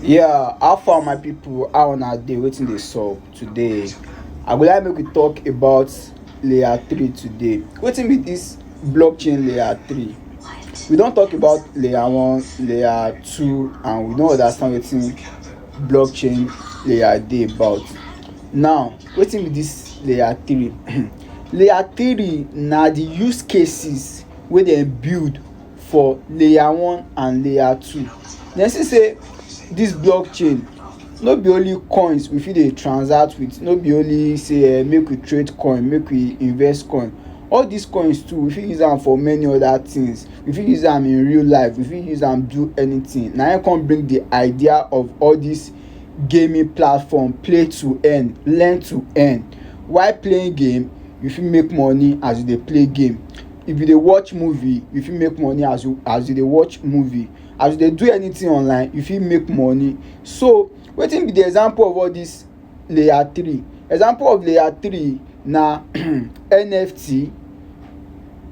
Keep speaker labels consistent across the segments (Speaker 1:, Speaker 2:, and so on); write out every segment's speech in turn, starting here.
Speaker 1: yeah how far my people how una dey wetin dey sup today i go like make we talk about layer three today wetin be this blockchain layer three we don talk about layer one layer two and we don understand wetin blockchain layer dey about now wetin be this layer three layer three na the use cases wey dem build for layer one and layer two dem see say this blockchain no be only coins we fit dey transact with no be only say um make we trade coin make we invest coin all this coins too we fit use am for many other things we fit use am in real life we fit use am do anything na him come bring the idea of all this gaming platform play to earn learn to earn while playing game you fit make money as you dey play game if you dey watch movie you fit make money as you as you dey watch movie as you dey do anything online you fit make money so wetin be the example of all this layer three example of layer three na NFT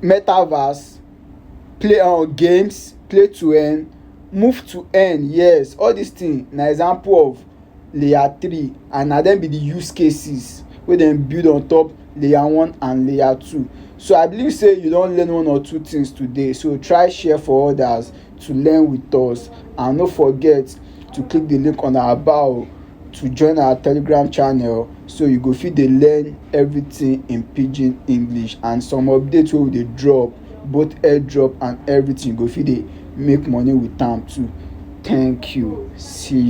Speaker 1: metaverse play um games play to earn move to earn yes all this thing na example of layer three and na dem be the use cases wey dem build on top layer one and layer two. So I believe say you don learn one or two things today so try share for others to learn with us and no forget to click the link on our bio to join our telegram channel so you go fit dey learn everything in pidgin english and some update wey we dey drop both airdrop and everything you go fit dey make money with am too thank you see you.